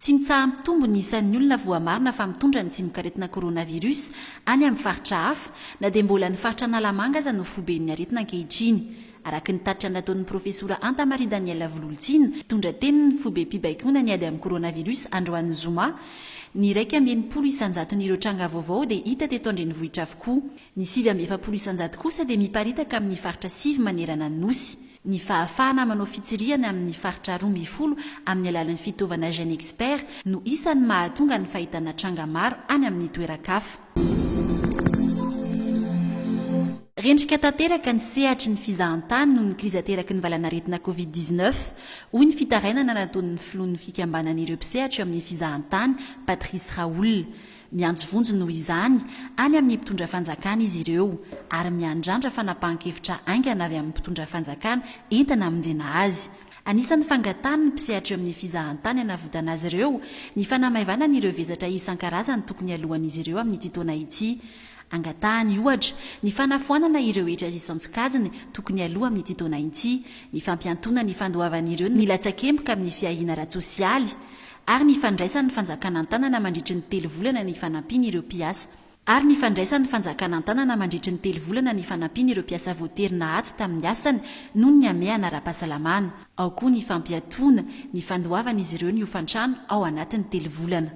Tsy mitsaha-mitombo ny isan'ny olona voamarina fa mitondra ny tsimokaretina coronavirus any amin'ny faritra hafa, na dia mbola ny faritra Analamanga aza no foiben'ny aretina ankehitriny. Araka ny tatitra nataon'ny profesora Anta Marie Danielle Vololtsina, mpitondra tenin'ny foibem-pibaikoana ny ady amin'ny coronavirus androany zoma, ny iraika amby enimpolo isan-jaton'ireo tranga vaovao dia hita teto an-drenivohitra avokoa. Ny sivy amby efapolo isanjato kosa dia miparitaka amin'ny faritra sivy manerana ny Nosy. Ny fahafahana manao fitsirihana amin'ny faritra roa mby folo amin'ny alalan'ny fitaovana GenExpert no isan'ny mahatonga ny fahitana tranga maro any amin'ny toeran-kafa. Rendrika tanteraka ny sehatry ny fizahantany noho ny krizy ateraky ny valanaretina Covid dix-neuf, hoy ny fitarainana nataon'ny filohan'ny fikambanan'ireo mpisehatra eo amin'ny fizahantany, Patrice Raoul. Miantso vonjy noho izany any amin'ny mpitondra fanjakana izy ireo ary miandrandra fanapahan-kevitra haingana avy amin'ny mpitondra fanjakana entina hamonjena azy. Anisan'ny fangatahan'ny mpisehatra eo amin'ny fizahantany hanavotana azy ireo ny fanamaivanany ireo vesatra isan-karazany tokony haloan'izy ireo amin'ity taona ity. Angatahany, ohatra, ny fanafoanana ireo hetra isan-tsokajiny tokony haloa amin'ity taona ity, ny fampiantoana ny fandoavan'ireo nilatsak'emboka amin'ny fiahiana ara-tsosialy, ary ny fandraisan'ny fanjakana an-tanana mandritry ny telo volana ny fanampiana ireo mpiasa, ary ny fandraisan'ny fanjakana an-tanana mandritry ny telo volana ny fanampiana ireo mpiasa voatery nahato tamin'ny asany noho ny hamehana ara-pahasalamana, ao koa ny fampiatoana ny fandoavan'izy ireo ny hofan-trano ao anatin'ny telo volana.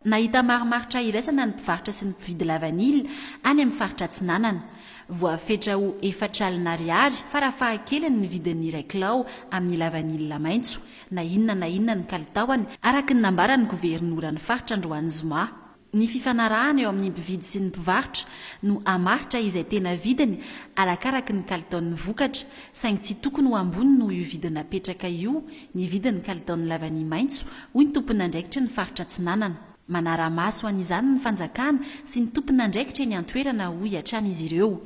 Nahita marimaritra iraisana ny mpivarotra sy ny mpividy lavanila any amin'ny faritra Atsinanana. Voafetra ho efatra alina ariary farafahakeliny ny vidin'ny iray kilao amin'ny lavanila maitso, na inona na inona ny kalitaony, araka ny nambaran'ny governoran'ny faritra androany zoma. Ny fifanarahana eo amin'ny mpividy sy ny mpivarotra no hamaritra izay tena vidiny arakaraky ny kalitaon'ny vokatra, saingy tsy tokony ho ambony noho io vidiny napetraka io ny vidin'ny kalitaon'ny lavania maitso, hoy ny tomponandraikitry ny faritra Atsinanana. Manara-maso an'izany ny fanjakana sy ny tompon'andraikitra eny an-toerana, hoy hatrany izy ireo.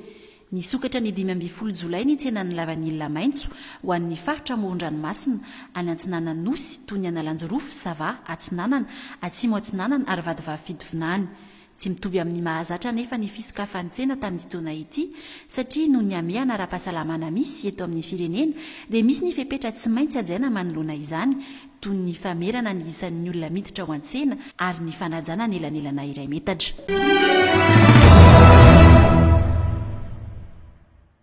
Nisokatra ny dimy ambin'ny folo jolay ny tsenan'ny lavanila maitso ho an'ny faritra amoron-dranomasina any Antsinanana Nosy toy ny Analanjirofo, Sava, Atsinanana, Atsimo Atsinanana ary Vadivavy-Fitovinany. Tsy mitovy amin'ny mahazatra anefa ny fisokafantsena tamin'ity taona ity satria noho ny hamehana ara-pahasalamana misy eto amin'ny firenena dia misy ny fepetra tsy maintsy hajaina manoloana izany toy ny famerana ny isan'ny olona miditra ao an-tsena ary ny fanajana ny elanelana iray metatra.